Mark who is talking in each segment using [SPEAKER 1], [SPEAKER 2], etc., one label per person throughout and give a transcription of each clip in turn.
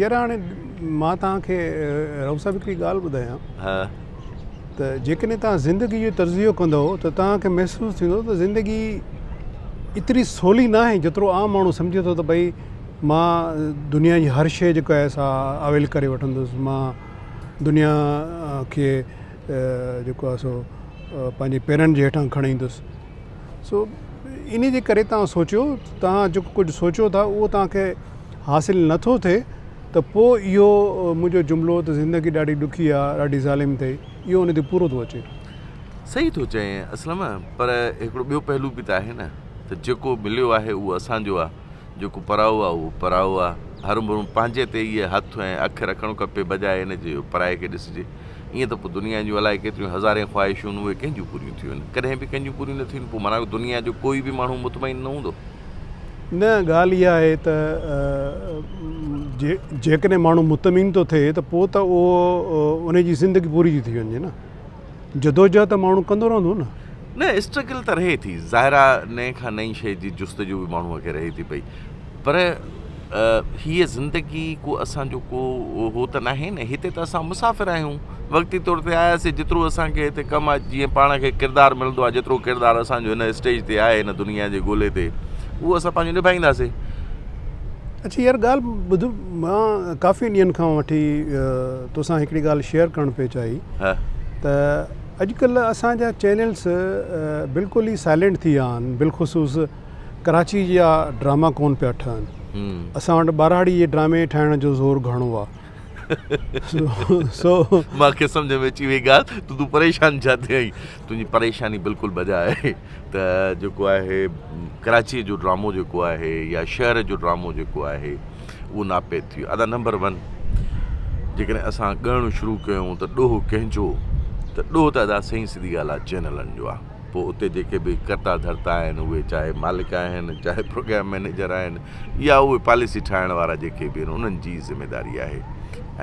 [SPEAKER 1] يار هاڻي
[SPEAKER 2] مان توهان کي رئوف صاحب هڪڙي ڳالهه ٻڌايان ها ته جيڪڏهن توهان زندگي جو تجزيو ڪندو ته توهان کي محسوس ٿيندو ته زندگي ايتري سولي نه آهي جيترو عام ماڻهو سمجهي ٿو ته ڀئي مان دنيا جي هر شيء جيڪا آهي سا اويل ڪري وٺندس مان دنيا کي جيڪو آهي سو پنهنجي پيرن جي هيٺان کڻي ايندس سو انهي جي ڪري توهان سوچيو توهان جيڪو ڪجهه سوچيو ٿا اهو توهان کي حاصل نٿو ٿئي ته پوء اهو منهنجو جملو ته زندگي ڏاڍي ڏکي آ ڏاڍي ظالم اٿئي اهو ان تي پورو ٿو اچي. صحيح ٿو
[SPEAKER 1] چئين اسلم پر هڪڙو ٻيو پهلو به ته آهي نه ته جيڪو مليو آهي اهو اسان جو آ. جيڪو پرائو آ اهو پرائو آ. هر مڙهه پنهنجي تي ئي هٿ ۽ اک رکڻ کپي بجاء ان جي جو پرائي کي ڏسجي. ائين ته پوء دنيا جون الائي ڪيتريون هزارين خواهشون اهي ڪنهن جون پوريون ٿيون؟ ڪڏهن به ڪنهن جون پوريون نه ٿيون پوء معنيٰ دنيا جو ڪوئي به ماڻهو مطمئن نه هوندو. نه
[SPEAKER 2] ڳالهه اها آهي ته جيڪڏهن ماڻهو مطمئن ٿو ٿئي ته پوء ته اهو ان جي زندگي پوري ٿي ٿي وڃي نه. جدوجهد ته ماڻهو ڪندو رهندو نه. نه اسٽرگل ته رهي ٿي
[SPEAKER 1] ظاهر آ نئين کان نئين شئي جي جستجو به ماڻهو کي رهي ٿي پئي پر هيء زندگي ڪو اسان جو ڪو هو ته ناهي نه هتي ته اسان مسافر آهيون وقتي طور تي آياسي جيترو اسان کي هتي ڪم آ جيئن پاڻ کي ڪردار ملندو آ جيترو ڪردار اسان جو هن اسٽيج تي آهي هن دنيا جي گولي تي اهو اسان پنهنجو نڀائينداسي.
[SPEAKER 2] اڇا يار ڳالهه ٻڌ مان ڪافي ڏينهن کان وٺي توسان هڪڙي ڳالهه شيئر ڪرڻ پئي چاهي ته اڄڪلهه اسان جا چينلس بلڪل ئي سائلنٽ ٿي ويا آهن بلخصوص ڪراچي جا ڊراما ڪون پيا ٺهن اسان وٽ ٻهراڙي جي ڊرامي ٺاهڻ جو زور گهڻو آهي سو
[SPEAKER 1] مانکي سمجهه ۾ اچي وئي ڳالهه ته تون پريشان ڇا ٿئين تنهنجي پريشاني بلڪل بجا آهي ته جيڪو آهي ڪراچي جو ڊرامو جيڪو آهي يا شهر جو ڊرامو جيڪو آهي اهو ناپيد ٿي ويو ادا نمبر ون جيڪڏهن اسان ڳائڻو شروع ڪيون ته ڏوهه ڪنهن جو ته ڏوهه ته ادا سهي سڌي ڳالهه آهي چينلن جو آهي پوء اتي جيڪي به ڪرتا ڌرتا آهن اهي چاهي مالڪ آهن چاهي پروگرام مينيجر آهن اها اهي پاليسي ٺاهڻ وارا جيڪي به آهن انهن جي ئي ذميداري آهي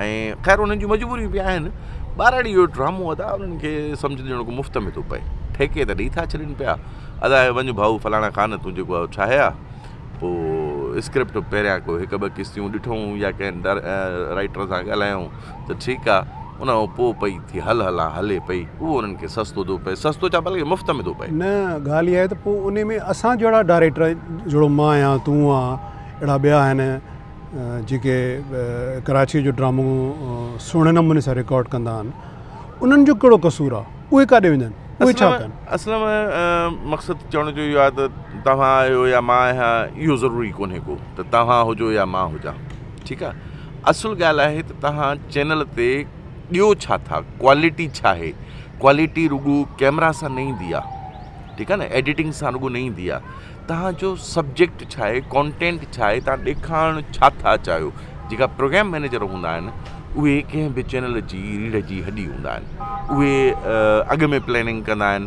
[SPEAKER 1] ۽ خير انهن جون مجبوريون به آهن ٻهراڙي اهو ڊرامو ادا انهن کي سمجهه ڏيڻو ڪو مفت ۾ ٿو پئي ٺيڪي ته ڏئي ٿا ڇڏين پيا ادا هي وڃ ڀائو فلاڻا خان تون جيڪو اهو ٺاهي آ پوء اسڪرپٽ پهريان ڪو هڪ ٻه قسطيون ڏٺئون يا ڪنهن ڊر رائيٽر سان ڳالهايئون ته ٺيڪ آ، ان کان پوء پئي ٿي هل هلان هلي پئي، اهو انهن کي سستو ٿو پئي، سستو ڇا بلڪ مفت ۾ ٿو پئي. نه ڳالهه اها آهي ته پوء
[SPEAKER 2] انهي ۾ اسان جهڙا ڊائريڪٽر جهڙو مان آهيان، تون آن، اهڙا ٻيا آهن جيڪي ڪراچيء جو ڊرامو سهڻي نموني سان رڪارڊ ڪندا آهن، انهن جو ڪهڙو قصور آ، اهي ڪاڏي وڃن، اهي ڇا ڪن. اصل ۾
[SPEAKER 1] مقصد چوڻ جو اهو آهي ته توهان آهيو يا مان آهيان اهو ضروري ڪونهي ڪو ته توهان هجو يا مان هجان. ٺيڪ آ اصل ڳالھ آھي ته تھان چينل تي ڏيو ڇا ٿا ڪوالٽي ڇا آھي ڪوالٽي رڳو ڪيمرا سان نه ايندي آ ٺيڪ آ نه ايڊيٽنگ سان رڳو نه ايندي آ تھان جو سبجيڪٽ ڇا آھي ڪونٽينٽ ڇا آھي تھان ڏيکارڻ ڇا ٿا چاھيو جيڪا پروگرام مينيجر ھوندا آھن اھي ڪنھن بھ چينل جي ريڙھ جي ھڏي ھوندا آھن اھي اڳ ۾ پليننگ ڪندا آھن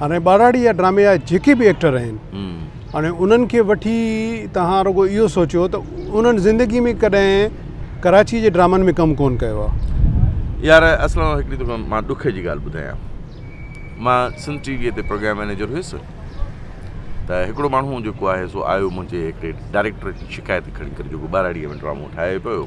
[SPEAKER 2] هاڻي ٻاراڙي يا ڊرامي جا جيڪي به ايڪٽر آهن هاڻي انهن کي وٺي تهان رڳو اهو سوچيو ته انهن زندگي ۾ ڪڏهن ڪراچي جي ڊرامن ۾ ڪم ڪون ڪيو آهي يار
[SPEAKER 1] اصل ۾ هڪڙي توکي مان ڏک جي ڳالهه ٻڌايان مان سنڌ ٽي وي تي پروگرام مينيجر هيس ته هڪڙو ماڻهو جيڪو آهي سو آيو منهنجي هڪڙي ڊائريڪٽر جي شڪايت کڻي ڪري جيڪو ٻاراڙيء ۾ ڊرامو ٺاهي پيو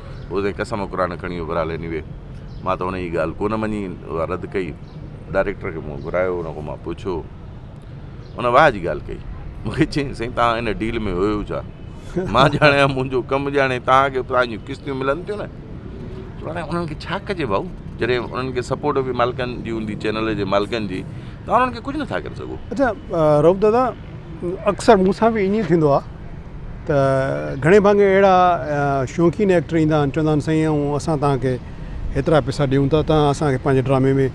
[SPEAKER 1] اوزين قسم قرآن کڻي اڀرا لي نوي مان ته انهيء ڳالهه ڪونه مڃي اها رد ڪئي ڊائريڪٽر کي مون گهرايو ان کان مان پڇيو ان واهه جي ڳالهه ڪئي مون کي چيائين سائين توهان ان ڊيل ۾ هيو ڇا مان ڄاڻايان منهنجو ڪم ڄاڻي توهان کي توهان جون قسطيون ملن ٿيون نه چوڻ انهن کي ڇا ڪجي ڀائو جڏهن انهن کي سپورٽ به مالڪن جي هوندي چينل جي مالڪن جي توهان انهن کي ڪجهه نٿا ڪري سگهو اڇا رئوف
[SPEAKER 2] دادا اڪثر مون سان به ائين ٿيندو آهي ته گهڻي ڀاڱي اهڙا شوقين ايڪٽر ايندا آهن چوندا آهن سائين ائون اسان تهان کي هيترا پيسا ڏيون ٿا تهان اسان کي پنهنجي ڊرامي ۾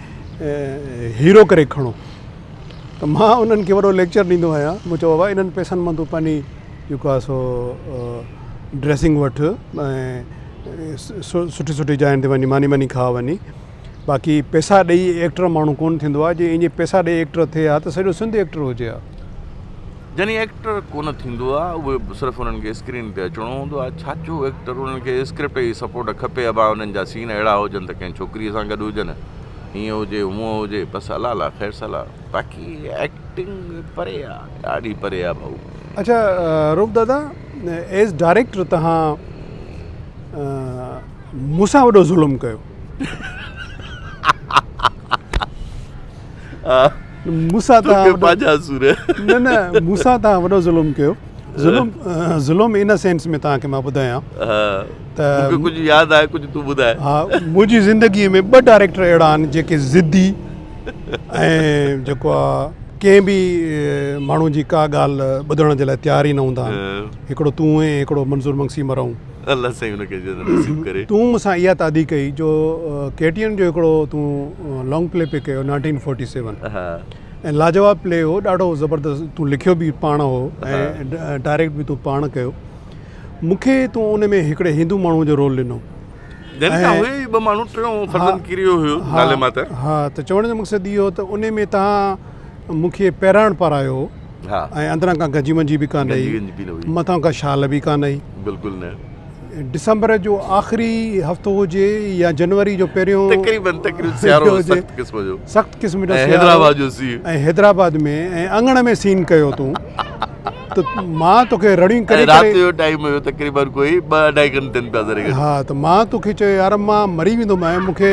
[SPEAKER 2] هيرو ڪري کڻو ته مان انهن کي وڏو ليڪچر ڏيندو آهيان مون چيو بابا انهن پيسن مان تون پنهنجي جيڪو آهي سو ڊريسنگ وٺ ۽ سٺي سٺي جاين تي وڃي ماني واني کاء وڃي باقي پيسا ڏئي ايڪٽر ماڻهو ڪونه ٿيندو آهي جي ايئن پيسا ڏئي ايڪٽر ٿئي ها ته سڄو سنڌ ايڪٽر هجي ها. جني
[SPEAKER 1] ايڪٽر ڪونه ٿيندو آ اهي صرف انهن کي اسڪرين تي اچڻو هوندو آ ڇاچو ايڪٽر انهن کي اسڪرپٽ جي سپورٽ کپي اڀا انهن جا سين اهڙا هجن ته ڪنهن ڇوڪري سان گڏ هجن هيئن هجي هونئن هجي بس الله لا خير صلاح باقي ايڪٽنگ پري آ ڏاڍي پري آ ڀائو. اچا
[SPEAKER 2] روپ دادا ايز ڊائريڪٽر تهان مون سان وڏو ظلم ڪيو. مون سان توهان وڏو ظلم ڪيو ظلم ظلم ان سينس ۾ توهان کي مان ٻڌايان ته مون کي ڪجهه ياد
[SPEAKER 1] آهي ڪجهه تون ٻڌاء ها منهنجي
[SPEAKER 2] زندگي ۾ ٻه ڊائريڪٽر اهڙا آهن جيڪي ضدي ۽ جيڪو آهي ڪنهن به ماڻهو جي ڪا ڳالهه ٻڌڻ جي لاء تيار ئي نه هوندا آهن هڪڙو تون هين هڪڙو منظور مگسي مرحوم الله سائين ان کي
[SPEAKER 1] جنت نصيب ڪري. تون مون سان اها تعدي
[SPEAKER 2] ڪئي جو ڪي ٽي اين جو هڪڙو تون لانگ پلي پي ڪيو نائنٽين فورٽي سيون ۽ لاجواب پلي هو ڏاڍو زبردست تون لکيو به پاڻ هو ۽ ڊائريڪٽ به تون پاڻ ڪيو مون کي تون ان ۾ هڪڙي هندو ماڻهو جو رول ڏنو جن کان هي ٻه ماڻهو ٽيون فرزند ڪريو هيو نالي ماتر ها ته چوڻ جو مقصد اهو ته ان ۾ تان مون کي پهراڻ پارايو هو ۽ اندران ڪا گنجي ونجي به ڪانه هئي، مٿان ڪا شال به ڪانه هئي. بلڪل نه.
[SPEAKER 1] ڊسمبر
[SPEAKER 2] جو آخري هفتو هجي يا جنوري جو پهريون. تقريبن تقريبن سيارو هو سخت قسم جو. سخت قسم جو سيارو. ۽ حيدرآباد جو سين. ۽ حيدرآباد ۾ ۽ اڱڻ ۾ سين ڪيو تون. ته مان توکي رڙيون ڪري ڪري. ۽ رات جو ٽائيم هيو تقريبن ڪوئي ٻه اڍائي گهنٽن پيا ذري گهٽ. ها ته مان توکي چيو يار مان مري ويندومانء مون کي.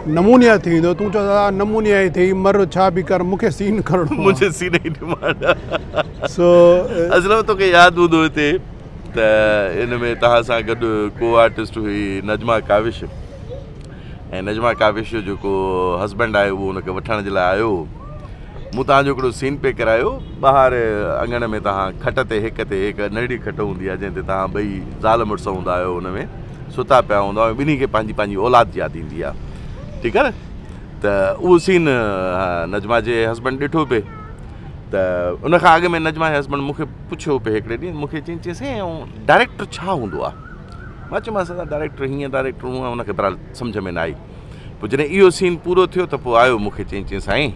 [SPEAKER 2] نمونيا ٿي ويندو تون چوس آء نمونيا ئي ٿي مر ڇا به ڪر مونکي سين کڻڻو آ مونکي سين ئي ڊمانڊ
[SPEAKER 1] آ سو اصل ۾ توکي ياد هوندو هتي ته ان ۾ توهان سان گڏ ڪو آرٽسٽ هئي نجما ڪاوش ۽ نجما ڪاوش جو جيڪو هسبينڊ آهي اهو ان کي وٺڻ جي لاء آيو هو مون توهان جو هڪڙو سين پئي ڪرايو. ٻاهر اڱڻ ۾ توهان کٽ تي هڪ تي هڪ ننڍڙي کٽ هوندي آهي، جنهن تي توهان ٻئي زال مڙس هوندا آهيو، ان ۾ ستا پيا هوندا آهيو، ٻنهي کي پنهنجي پنهنجي اولاد ياد ايندي آهي. ٺيڪ آهي نه؟ ته اهو سين نجمه جي هسبنڊ ڏٺو پئي ته ان کان اڳ ۾ نجمه جي هسبنڊ مون کي پڇيو پئي هڪڙي ڏينهن مون کي چيائين چيائين سائين اهو ڊائريڪٽر ڇا هوندو آهي؟ مان چيومانس سر ڊائريڪٽر هيئن ڊائريڪٽر هونئن ان کي بهرحال سمجهه ۾ نه آئي. پوء جڏهن اهو سين پورو ٿيو ته پوء آيو مون کي چيائين چيائين سائين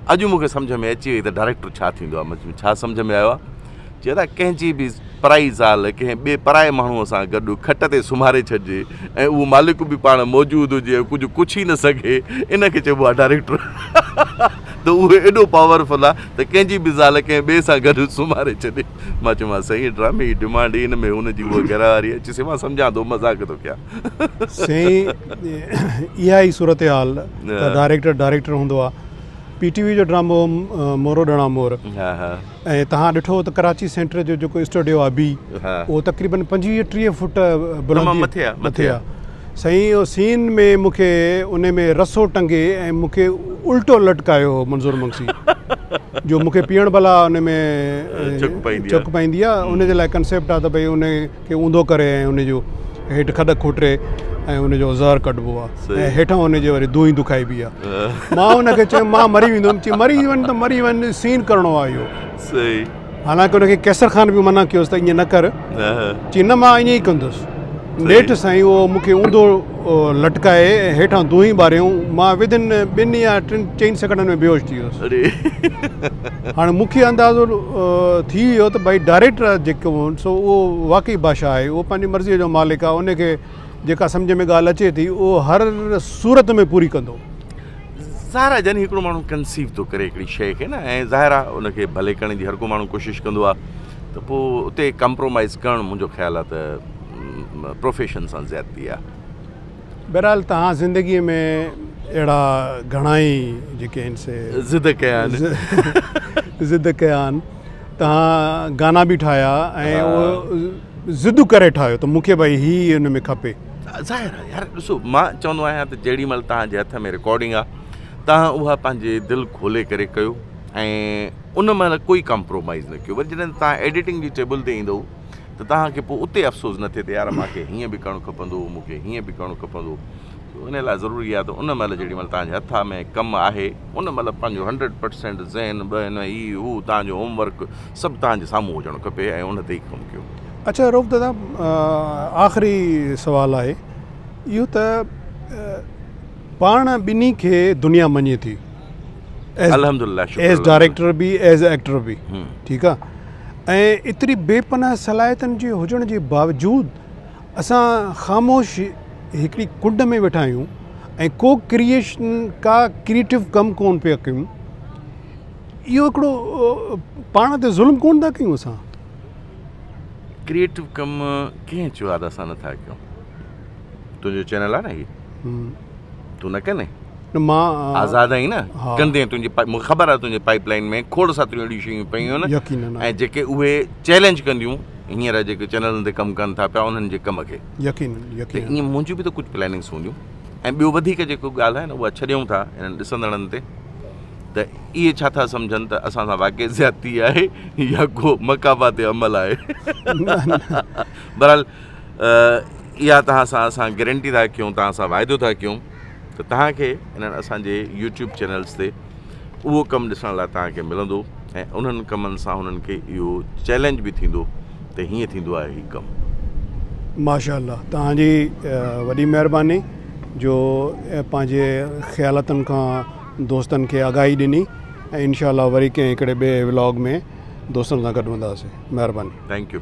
[SPEAKER 1] اڄ مون کي سمجهه ۾ اچي وئي ته ڊائريڪٽر ڇا ٿيندو آهي مون چيو ڇا سمجهه ۾ آيو آهي چي ادا ڪنهن جي به پرائي زال ڪنهن ٻئي پرائي ماڻهوء سان گڏ کٽ تي سمهاري ڇڏجي ۽ اهو مالڪ به پاڻ موجود هجي ۽ ڪجهه ڪڇ ئي نه سگهي ان کي چئبو آهي ڊائريڪٽر ته اهو ايڏو پاور فل آهي ته ڪنهن جي به زال ڪنهن ٻئي سان گڏ سمهاري ڇڏي مان چيومانس سائين ڊرامي جي ڊمانڊ ئي ان ۾ هن جي اها گهراواري آهي چيسي مان سمجهان ٿو مذاق ٿو ڪيان سائين
[SPEAKER 2] اها ئي صورتحال ته ڊائريڪٽر ڊائريڪٽر هوندو آ پي ٽي وي جو ڊرامو مورو ڏڻا مور ۽ تهان ڏٺو ته ڪراچي سينٽر جو جيڪو اسٽوڊيو آ بي اهو تقريبن پنجويهه ٽيهه فوٽ بلندي مٿي آ سائين اهو سين ۾ مونکي ان ۾ رسو ٽنگي ۽ مونکي الٽو لٽڪايو هو منظور مگسي جو مونکي پيئڻ بلا ان ۾ چڪ پائيندي آ ان جي لاء ڪنسيپٽ آ ته ڀئي ان کي اونڌو ڪري ۽ ان جو هيٺ کڏ کوٽري ۽ ان جو زهر ڪڍبو آ ۽ هيٺان ان جي وري دونهي دکائبي آ مان ان کي چيم مان مري ويندم چي مري وڃ ته مري وڃ سين ڪرڻو آ اهو صحيح
[SPEAKER 1] حالانڪه ان کي
[SPEAKER 2] قيصر خان به منع ڪيوس ته ائين نه ڪر چي نه مان ائين ئي ڪندس نيٺ سائين اهو مون کي اونڌو لٽڪائي هيٺان دونهين ٻاريون، مان وڌين ٻن يا ٽن چئن سيڪنڊن ۾ بيهوش ٿي ويس. هاڻي مون کي اندازو ٿي ويو ته ڀائي ڊائريڪٽر جيڪو هو سو اهو واقعي بادشاهه آهي، اهو پنهنجي مرضيء جو مالڪ آهي، ان کي جيڪا سمجهه ۾ ڳالهه اچي ٿي اهو هر صورت ۾ پوري ڪندو. ظاهر
[SPEAKER 1] آهي جڏهن هڪڙو ماڻهو ڪنسيو ٿو ڪري هڪڙي شيء کي نه ۽ ظاهر آهي ان کي ڀلي ڪرڻ جي هر ڪو ماڻهو ڪوشش ڪندو آهي ته پوء اتي ڪمپرومائيز ڪرڻ منهنجو خيال آهي ته پروفيشن سان زيادتي آ. بهرحال توهان
[SPEAKER 2] زندگي ۾ اهڙا گهڻائي جيڪي آهن سي ضد ڪيا آهن ضد ڪيا آهن توهان گانا به ٺاهيا ۽ اهو ضد ڪري ٺاهيو ته مونکي ڀائي هي ان ۾ کپي ظاهر آهي يار
[SPEAKER 1] ڏسو مان چوندو آهيان ته جيڙي مهل توهان جي هٿ ۾ رڪارڊنگ آ توهان اها پنهنجي دل کولي ڪري ڪيو ۽ ان مهل ڪوئي ڪمپرومائز نه ڪيو وري جڏهن توهان ايڊيٽنگ جي ٽيبل تي ايندو ته توهان کي پوء اتي افسوس نه ٿئي ته يار مان کي هيئن به ڪرڻ کپندو هو، مون کي هيئن به ڪرڻو کپندو هو. ان لاء ضروري آهي ته ان مهل جيڏي مهل توهان جي هٿا ۾ ڪم آهي، ان مهل پنهنجو هنڊريڊ پرسينٽ ذهن بهن هي هو توهان جو هوم ورڪ سڀ توهان جي سامهون هجڻ کپي ۽ ان تي ئي ڪم ڪيو. اڇا رئوف دادا
[SPEAKER 2] آخري سوال آهي اهو ته پاڻ ٻنهي کي دنيا مڃي ٿي.
[SPEAKER 1] ايز ڊائريڪٽر
[SPEAKER 2] به ايز ايڪٽر به ٺيڪ آ ۽ ايتري بي پناهه صلاحيتن جي هجڻ جي باوجود اسان خاموش هڪڙي ڪنڊ ۾ ويٺا آهيون ۽ ڪو ڪريئشن ڪا ڪريئٽو ڪم ڪون پيا ڪيون اهو هڪڙو پاڻ تي ظلم ڪون ٿا ڪيون اسان
[SPEAKER 1] ڪريئٽو ڪم ڪنهن چيو آ اسان نٿا ڪيون تنهنجو چينل آ نه هي تون نه ڪندين مان
[SPEAKER 2] آزاد آهين نه
[SPEAKER 1] ڪندين تنهنجي مونکي خبر آهي تنهنجي پائيپ لائين ۾ کوڙ ساتريون اهڙيون شيون پيون آهن يقين ۽ جيڪي اهي چئلينج ڪنديون هينئر جيڪي چينلن تي ڪم ڪن ٿا پيا انهن جي ڪم کي يقين يقين ائين منهنجي به ته ڪجهه پلاننگس هونديون ۽ ٻيو وڌيڪ جيڪو ڳالهه آهي نه اها ڇڏيون ٿا انهن ڏسندڙن تي ته اهي ڇا ٿا سمجهن ته اسان سان واقعي زيادتي آهي يا ڪو مقاباتي عمل آهي برحال اها توهان سان اسان گرنٽي ٿا ڪيون توهان سان واعدو ٿا ڪيون ته توهان کي انهن اسانجي يوٽيوب چينلس تي اهو ڪم ڏسڻ لاء توهان کي ملندو ۽ انهن ڪمن سان انهن کي اهو چيلنج به ٿيندو ته هيئن ٿيندو آهي هي ڪم. ماشاء الله توهان
[SPEAKER 2] جي وڏي مهرباني جو پنهنجي خيالتن کان دوستن کي آگاهي ڏني ۽ انشاء الله وري ڪنهن هڪڙي ٻئي ولاگ ۾ دوستن سان گڏ هونداسين مهرباني. Thank U.